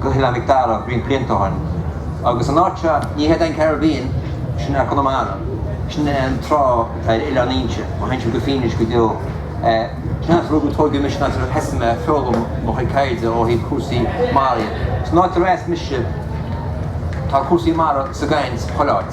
go hOileán Mhic Dara roinnt blianta ó shin agus an áit seo, ní hé an Caribbean é sin ach Conamara, sin é an trá atá ar Oileán Fhínse, má théann sibh go Fínis go deo. San áit ar rugadh, tóigeadh mise, an áit ar thosaigh mé ag foghlaim mo chuid taighde ó thaobh cúrsaí mara de. San áit ar fhás mise tá cúrsaí mara sa gcaint chuile áit.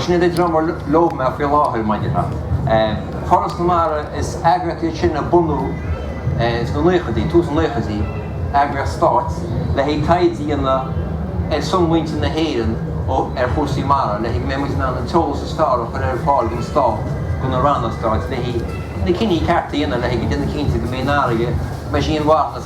Sin é an dream ar leob mé faoi láthair maidir le Foras na Mara, is eagraíocht í sin a bunaíodh sna naochaidí, tús na naochaidí, eagraíocht stáit le haghaidh taighde a dhéanamh ar son mhuintir na hÉireann ar chúrsaí mara, le go mbeidh muid in ann an t-eolas is fearr a chur ar fáil don stát, do na ranna stáit, le haghaidh na cinní cearta a dhéanamh, le haghaidh déanamh cinnte go mbeidh an fharraige, go mbeidh sí inmharthana.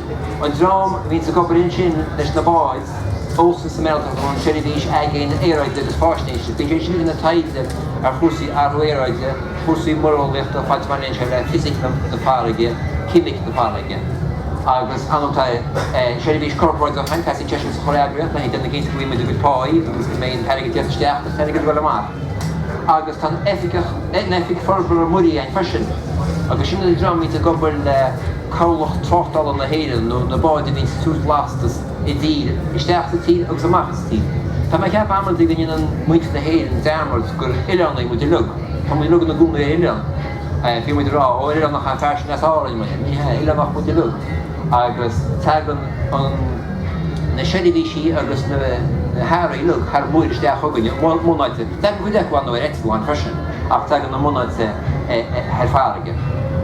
An dream a bhíonns ag obair ansin leis na báid ó, sin OCIS, an tSeirbhís Aigéin Aeráide agus Faisnéise, bíonn siad sin ag déanamh taighde ar chúrsaí athrú aeráide, cúrsaí muireolaíochta, faoi leith mar aon le fisic na farraige, ceimic na farraige agus ansin tá seirbhís chorparáideach ann, teastaíonn sé sin sa chuile eagraíocht le haghaidh déanamh cinnte go bhfaighidh muid ár gcuid páí agus go mbeidh an t-airgead ag tíocht isteach agus an t-airgead ag dul amach. Agus tá an oifig, an Oifig Forbartha Muirí ann freisin agus sin an dream atá ag obair le Cabhlach Tráchtála na hÉireann nó na báid a bhíonns ag tabhairt lastas i dtír, isteach sa tír agus amach as tír. Tá mé ag ceapadh amantaí go ndéanann muintir na hÉireann dearmad gur oileánaigh muid uilig. Tá muid uilig ina gcónaí ar oileán, bíonn muid ag rá, ó oileánach an person as Árainn, ní hea, oileánaigh muid uilig. agus tagann na seirbhísí agus na hearraí uilig thar muir isteach chugainn, a mbunáite, tagann cuid acu ann ar eitleáin freisin, ach tagann a mbunáite thar farraige.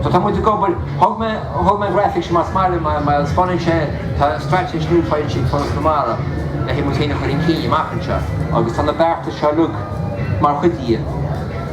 So tá muid ag obair, thug mé an ghrafaic seo más maith libh mar spáineann sé tá straitéis nua faighte ag Foras na Mara le haghaidh muid féin a chur chun cinn amach anseo agus tá na beartais seo uilig mar chuid di.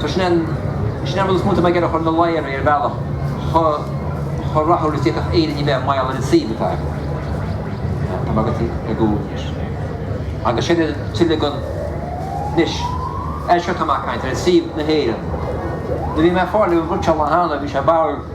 So sin an rud is mó atá mé ag iarraidh a chur ina láthair, ar bhealach chomh rathúil is a d'fhéadfadh Éire a bheith mar gheall ar an suíomh atá aici. Tá mé ag dul ar gcúl anois. Agus sin é tuilleadh den anois. Seo atá mé ag caint, ar shuíomh na hÉireann. Nuair a bhí mé ag fáil an rud seo le theannadh, bhí sé ag barr.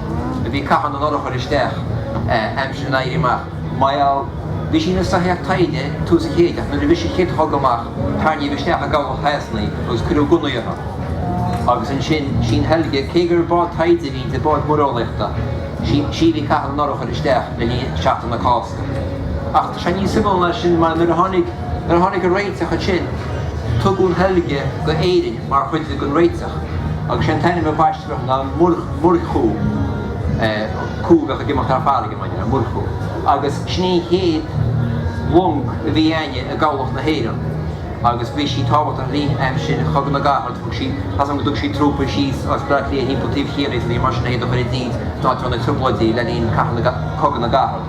A bhí ag caitheamh na n-urchar isteach aimsir an Éirí Amach. Bhuel, bhí sí ina soitheach taighde tús an chéid ach nuair a bhris an chéad chogadh amach tarraingíodh isteach i gcabhlach Shasana í agus cuireadh gunnaí uirthi. Agus ansin, sin í an Helga, cé gur bád taighde a bhí inti, bád muireolaíochta, sí a bhí ag caitheamh na n-urchar isteach le linn Seachtain na Cásca. Ach tá sé níos suimiúla ná sin mar nuair a tháinig, nuair a tháinig an réiteach ansin, tugadh an Helga go hÉirinn. mar chuid den réiteach agus sé an t-ainm a baisteadh uirthi ná Muirchú, cú a bheadh ag imeacht thar farraige, mar dhea, Muirchú, agus sin í an chéad long a bhí againne i gCabhlach na hÉireann agus bhí sí tábhachtach le linn aimsir Chogadh na gCarad, thug sí, as an go dtug sí trúpaí síos as Bleá Cliath timpeall taobh Chiarraí, mar sin le hiad a chur i dtír san áit a raibh na Trioblóidí le linn Cogadh na gCarad.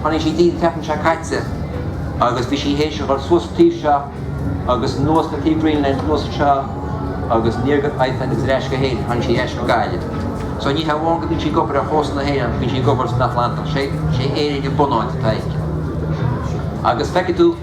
Tháinig sí go dtí an tseachtain seo caite agus bhí sí théis a dhul suas an taobh seo agus anuas an taobh Greenland anuas anseo agus aniar go Iceland agus ar ais go hÉirinn, tháinig sí ar ais go Gaillimh. So ní hamháin go mbíonn sí ag obair ar chósta na hÉireann, bíonn sí ag obair san Atlantach, sé Éirinn an bunáit atá aici. Agus feicfidh tú.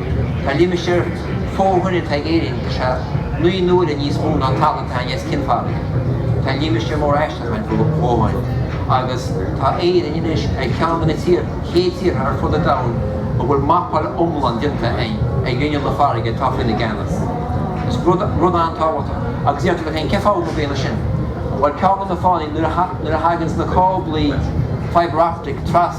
Tá limistéar fo thoinn atá ag Éirinn is ea naoi n-uaire níos mó ná an talamh atá againn as cionn farraige. Tá limistéar mór aisteach againn fo thoinn agus tá Éirinn anois ar cheann de na chéad tíortha ar fud an domhain a bhfuil mapáil iomlán déanta ar ghrinneall na farraige atá faoina gceannas. Is rud an-tábhachtach. Agus déarfaidh tú leat féin, cén fáth go mb'ea é sin? Bhuel, ceann de na fáthanna nuair a thaganns na cáblaí fibreoptic trasna,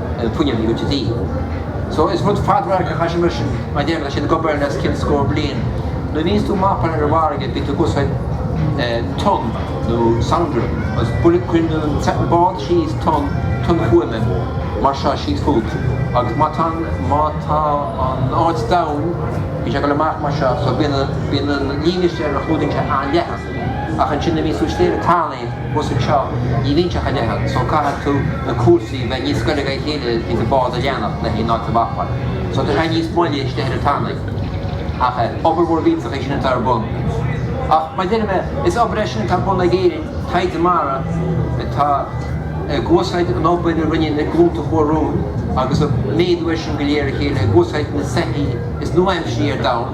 fuinneamh gaoithe. So is rud fadradhairc an obair seo mar sin mar a deir mé tá sé ag obair le os cionn scór bliain. Nuair a bhíonns tú ag mapáil ar an bhfarraige bíonn tú ag usáid tonn nó sonar agus buille, cuireann an bád síos tonn, tonn fuaime, mar seo síos fút agus má tá an, má tá an áit domhain bíonn sé ag dul amach mar seo so bíonn an, bíonn an líne istigh ar a chlúdaíonn sé an-leathan. Ach ansin nuair a bhíonns tú istigh ar an tanaí thuas anseo ní bhíonn sé chomh leathan so caithfidh tú na cúrsaí a bheith níos goire ag a chéile i ndán an bád a leanacht leis an áit a mhapáil so tá sé níos moille istigh ar an tanaí ach obair mhór mhillteach é sin atá ar bun ach mar deir mé is obair é sin atá ar bun ag Éirinn taighde mara atá ag úsáid an obair a rinne na glúnta a chuaigh romhainn agus ag méadú é sin de réir a chéile ag úsáid na soithí is nua-aimseartha ar domhan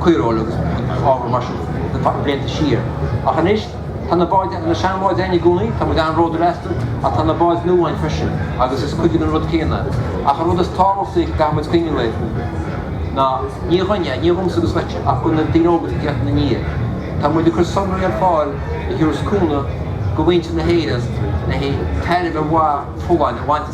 caoireoil agus gabhair mar sin na blianta siar ach anois tá na báid, na seanbháid againn i gcónaí, tá muid an-bhródúil astu ach tá na báid nua againn freisin agus is cuid den rud céanna iad. Ach an rud is tábhachtaí a gcaithfidh muid cuimhneamh air ná ní dhúinne, ní dhomsa agus dhuitse ach do na daoine óga atá ag teacht inár ndiaidh. Tá muid ag cur sonraí ar fáil a thiúrfas cúnamh do mhuintir na hÉireann le haghaidh tairbhe mhaith folláin a bhaint as.